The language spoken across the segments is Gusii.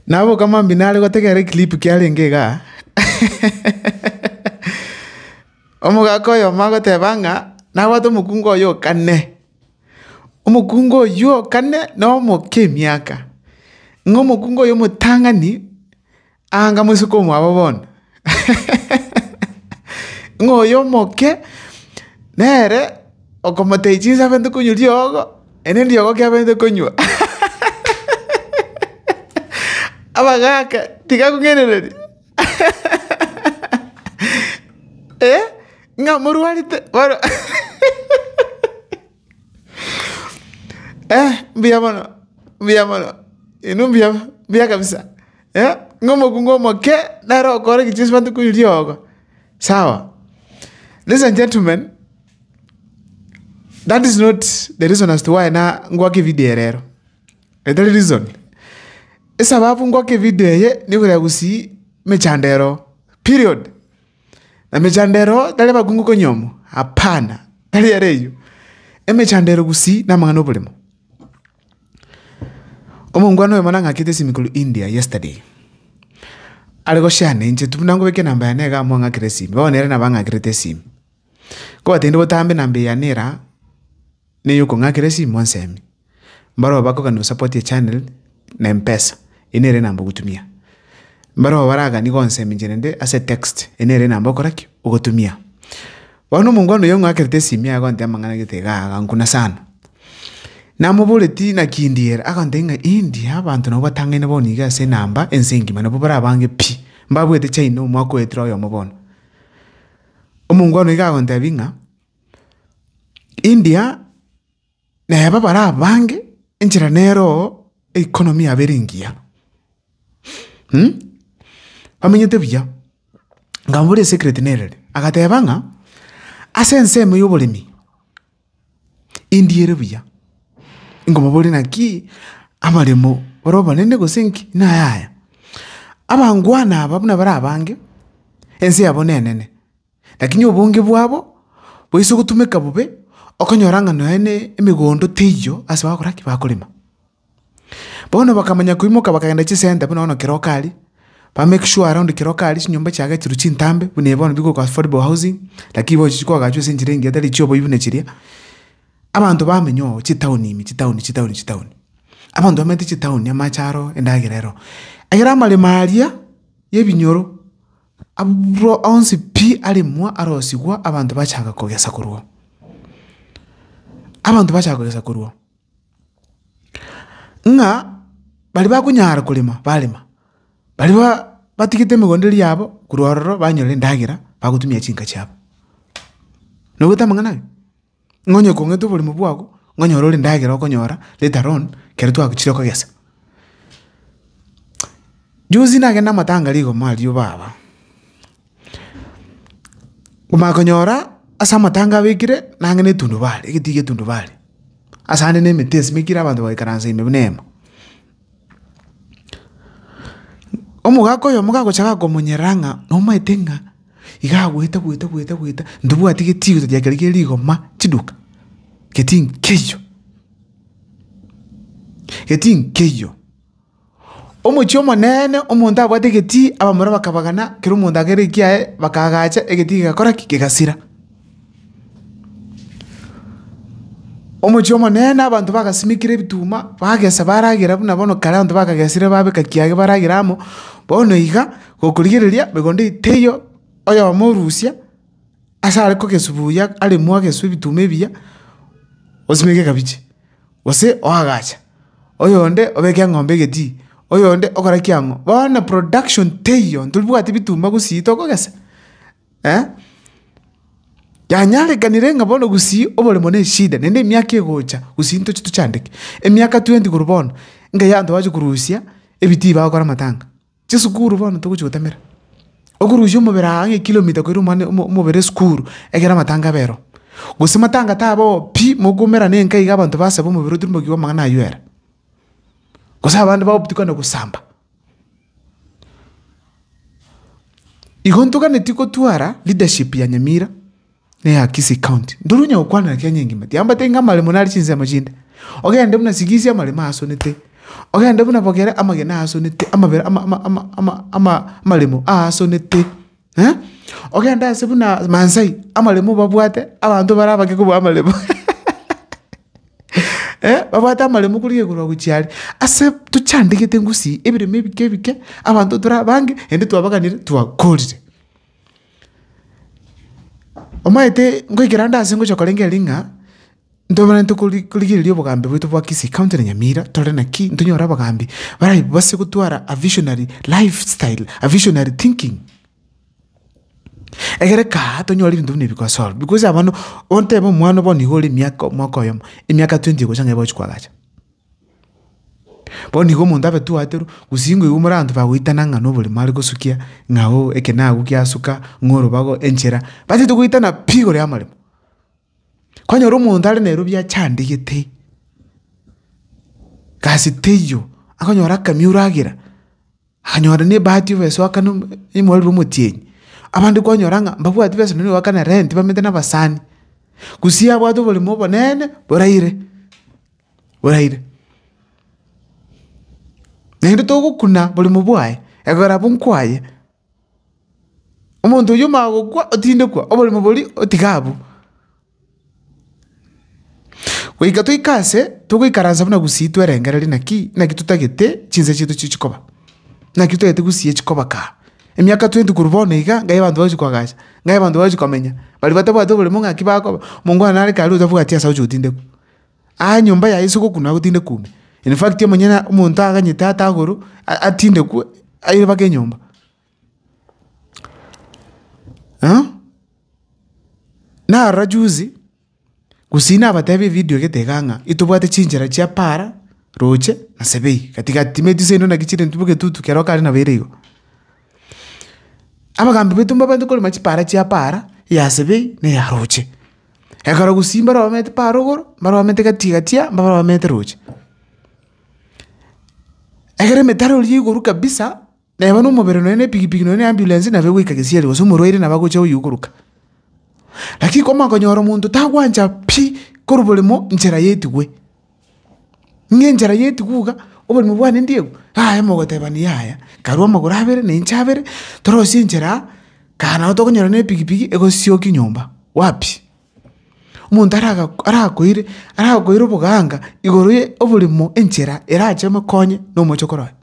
Nabo okama mambia nare gotegerera eclip kiarenge iga omogaka oyomo agoteba ng'a nabwate omokungu oye o kane, omokungu oywo o kane na omoke emiaka, ng'a omokungu oyo omotang'ani anga moiseke omwabo bono. ng'a oyo omoke nere okomotebia chinsa abente konywa riogo, ere riogo ki abete konywa? Abagaaka tiga akong'ainereria ng'a morwarete bono. Eh, mbuya mono, mbuya mono, inwe mbuya, mbuya kabisa, eh, ng'a omokungu omoke nere okore egecho ase matuko oi riogo, sawa. Ladies and gentlemen, that is not the reason as to why na ngoaka evideo eye rero, etari reason. Esababu ngoaka evideo eye, nekorenda gosii emechando ero, period. Namechandero tari abakungu konya omo, hapana, tari ere eyio, emechandero gusii namang'ana oborimo. Omongwana oyomo nang'akete esimi korwa India yesterday, are goshare inche tu buna ngobeke enamba yane iga amo ang'akere esimi, bono nere nabo ang'akerete esimi. Nkobate inde botambe enamba eye yane eraa. neyokong'akera esimo ensemi. Mbarabwo bakogania gosapoti echanel na empesa, eye nere enamba ogotumia. Mbarabwo baraganie gonsemi inche rende ase etext, eye nere enamba ogokora ki? Ogotumia. Bono omongwana oyo ong'akerete esimi agontebia amang'ana gete iga agankuna sana. Namoboreti naki India ere? Agoteba ng'a India abanto nabo batang'aine bono iga ase enamba ense engima nabo barabange pi, mbabwete China omwaka oetire oyomo bono. Omongwana iga agontebia ng'a. India, neba barabange enchera nero economy yabo ere engiya. Bamenyete buya, nkamoboria esecret nere ere, agateba ng'a ase ensemo ya oboremi, India ere buya. Nkomoboria naki amaremo bare omonene gose nki? Nayaya. Abangwana aba buna barabange, ense yabo nenene. Lakini obonge bwabo boise gotumeka bobe, okonyora ng'a nonya nemegondo teiyo ase bagokora ki? Bakorema. Bono bakamanya koimoka bakagenda chisenta buna bono kera okari, ba make sure around kera okari chinyomba chiaga chirwe chintambe buna eye bono bigokwa affordable housing, lakini bono chigochia koagachwa ase enchera engiya tari chioboi buna chiria. Abanto bamenya oo chitaoni ime, chitaoni, chitaoni, chitaoni. Abanto bamanyete chitaoni, amache aro, endagera ero. Egere amaremo aria y'ebinyoro. Amarwa onsi pi aremwa arosigwa, abanto bachaka kogesa korwa. Abanto bachaka kogesa korwa, ng'a baria bakonyara korema barema, baria ba batigete emegondo eria yabo korwa ororo banyora endagera bagotumia chinka chiabo. Naigwete amang'ana aye? Ng'a onye okong'ete oborimo bwago, ng'a onyore ore endagera okonyora later on ekero twagochire kogesa. Juzi nagende amatanga rigoma aria baba, omanya konyora ase amatanga abekire nang'e na etundubari, egetiyo gia etundubari, ase ande na emete esimekire abanto bagaikaransa ime buna eema. Omogaka oyomo gagocha gakonyerora ng'a nomaete ng'a iga agoeta goeta goeta goeta ntobwati getiuto gia kere gie rigoma chiduka, geti nkeiyo, geti nkeiyo. Omochie omonene omonto abwate egetii abamura bakabagana kera omonto akere ekiaye bakaagacha egetii kegakora ki? Kegasira. Omochie omonene abanto bagasimekire ebituma, bagesa baragera buna bono kare abanto bakagesire babeka kiagera baragera amo, bono iga gokorigereria miganda eye teiyo oyomo orusia ase are kogesi buya aremwo ageswe ebituma ebiya, osimeke ekabichi, gose oagacha, oyonde obeke eng'ombe egetii, oyonde okore ki ang'o. Bono production teiyo, ntobwati bituma gusii tokogesa, Yanyarekanire ng'a bono gusii oboremo ne eshida, naende emiaka egocha gusii ntoche tochandeke. Emiaka tweenti korwa bono, ngai abanto bache korusia ebitii bagokora amatanga. Chisukuru bono togochi gotemera, okorusia omobere aa ng'a ekilomita koira omwana omobere esukuru ekero amatanga abe ero. Gose matanga tabe oo pi, mokomerane enka iga abanto basaba omobere otirimokigwa amang'ana aywo ere. Gose abande bagotukanana gosamba. Igo ntoganetie gotwara leadership ya Nyamira, na eya Kisii county. Ndiri onye gokwana na Kenya engima, tiambateti ng'a amaremo nare chinsemo chinde. Ogende buna Sigisi amaremo aasonete, ogende buna Bogera amagena aasonete, amabera ama- ama- ama- ama- amaremo aasonete. Ogende aase buna Maasai, amaremo obabwate, abanto bare abake kobua amaremo, babwate amaremo korigia igoro na gochia aria. Ase tochandegete gusii, ebiremo ebike ebike, abanto tore abange, naende twabaganire, twakorire. Omanyete ngoikera ande aase ngochia korengera ring'a. Ntobanenerete korigereria obogambi bwaito bwa Kisii County na Nyamira, tore naki ntonyore abagambi barabe base gotwara a visionary life style, a visionary thinking. Egere kaa tonyore ebinto buna ebi biko solve because aba manu ontebe omwana bono iga ore emiaka omwaka oyomo emiaka twenty egocha ng'a egochi kwagacha. Bono iga omonto abe twaterwe gusii ng'o igo more abanto bagoitana ng'a na oborimo are gosukia ng'a oo eke nago giasuka ng'a orobago enchera, batagete goitana pi igoro y'amaremo. Kwanyora omonto are nerobio achandegete gasi teiyo, akonyora akamia oragera, akanyora ne ebahati obe soakana omorero omotienyi. Abande kwanyora ng'a mbabwati besa nonya goakana rent bamanyete na abasani, gusii abwate oboremo obonene boraire, boraire. Naende togokuna boremo bwaye, ekero abwo nkwaye. Omonto oyio omagokwa otindekwa oborimo boria otiga abwo. Goika toika ase togoikaransa buna gusii twerengereria naki naki totagete chinsa chiaito chiri chikoba. Naki totagete gusii echi koba kaa. Emiaka twenty korwa bono iga ngai abanto bagochi koagacha ngai abanto bagochi komenya. Baria batabwate oborimo ng'aki bakoba. Omongwana nare karia otabwati ase agochi gotindekwa. Aa nyomba yaye ase ogokuna agotinde kume. In fact omonyene omonto aganyete ate agoro atindekwe aire mpaka enyomba. narora juzi gose nabatebie evidio egete iga ng'a itobwate chinchera chia para, roche na sebei gatigati timanyeti gose naende naki chire ntuboke etutu kero kare nabo ere igo. Abagambi baito mbabanto korema chipara chia para, eya sebei na eya roche. Ekero gusii mbarobamete pa rogoro, mbarobamete gatii gatia, mbarobamete roche. Ekero emetara eria egoru kabisa, neba na omobere nonya na epigipigi nonya na ambulance nabo egoika gesieri gose omorwaire nabo agocha oywo okoruka. Lakini komanya konyora omonto tagwancha pi korwa boremo nchera yaetigwe. Ng'a enchera y'etuguga iga, oborimo bwane ndieu, yaya mogotebani yaya, karue amagoro abere na inche abere, torosie enchera aa, kana nabo tokonyora na epigipigi egosiokia nyomba. Wapi! Omonto araga arakoire arakoire oboganga igoro ye oborimo enchera erache emokonye na omochokoro oye.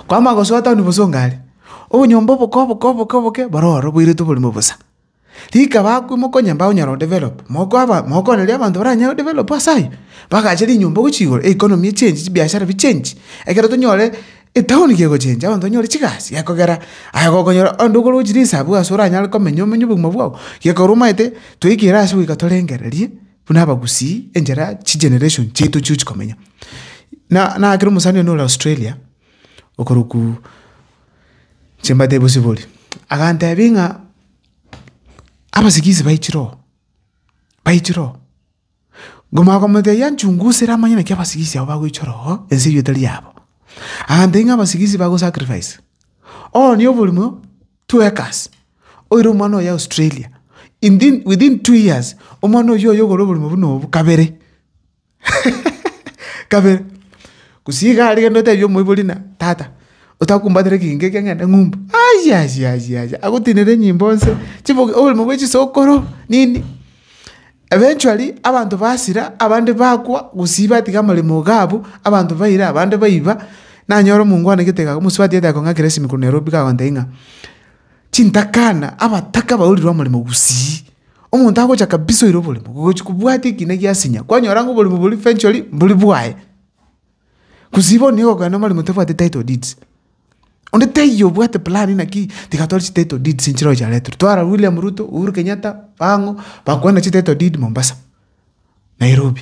Kwamanya gosoa town bosa onga are, obonyomba oboke oboke oboke oboke, boro ororo boirete oborimo bosa. Rikaba akwe mokonyambao onyare odevelop, mokoaba mokoororeria abanto baranyare odevelop ase ayio, bagache rinyomba gochia igoro, economy echenji, chibiashara bichenji, ekero tonyore etown gegochenja abanto banyore chigasi gekogera aye gokonyora onde okogochia risabu ase oranyare komenya omenye obogima bwago, gekorwa omanyete toikire ase goika torengererie buna abagusii enchera chigeneration chiaito chiochi komenya. Na nakere omosani one ore Australia. okorokwa chimbata ebosibori, agantebia ng'a abasigisi baichire oo, baichire oo, nkomanya komotebia nchunguza ere amanye naki abasigisi abwo bagoichora oo, ense eywo etari yabo. Agantebia ng'a abasigisi bago sacrifice, ooni oborimo twekas, oire omwana oye Australia, inthin within two years, omwana oywo oye ogore oborimo buna obo kabere. kabere. Gose iga aria kende otebie omoibori ng'a tata, otakumbatera ekegingo ekia ng'ende ng'umbu. Ayiayiayiayia, agotenere enyimbo nse, chiboke oboremo bwa chisokoro, nini. Eventually, abanto basira, abande bakwa, gose batiga amaremo iga abwo, abanto baira, abande baiba, nanyora omonto ngwanegete iga, omosubatia agochia gochia kong'akera esimi korwa Nairobi kagontebia ng'a. Chintakana, abataka baurire omoremo gusii. Omonto agocha kabisa oire oboremo, gochi kobwate ekina giasinya, kwanyora ng'a oboremo boria eventually mbori bwaye. Gusii bono nigo okogenda omoremo tabwate title deeds. Onde taiyo obwate plan naki tiga tore chititle deeds nchire ochareterwe. Twara William Ruto, Uhuru Kenyatta, bang'o, bakwana chititle deed Mombasa, Nairobi.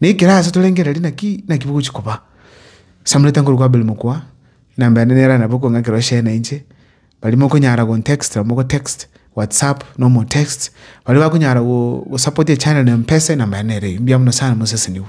Nekero aase torengereria naki naki bogochia koba. Samureta nkorokwa Abel mokwa, enamba yane nere nabo okong'a ekero share na inche, baria mokonyara gontext na mogo text, whatsapp na omotext, baria bakonyara go gosapota echannel na mpesa enamba yane nere eyio. Mbuya mono sana mosesenigwe.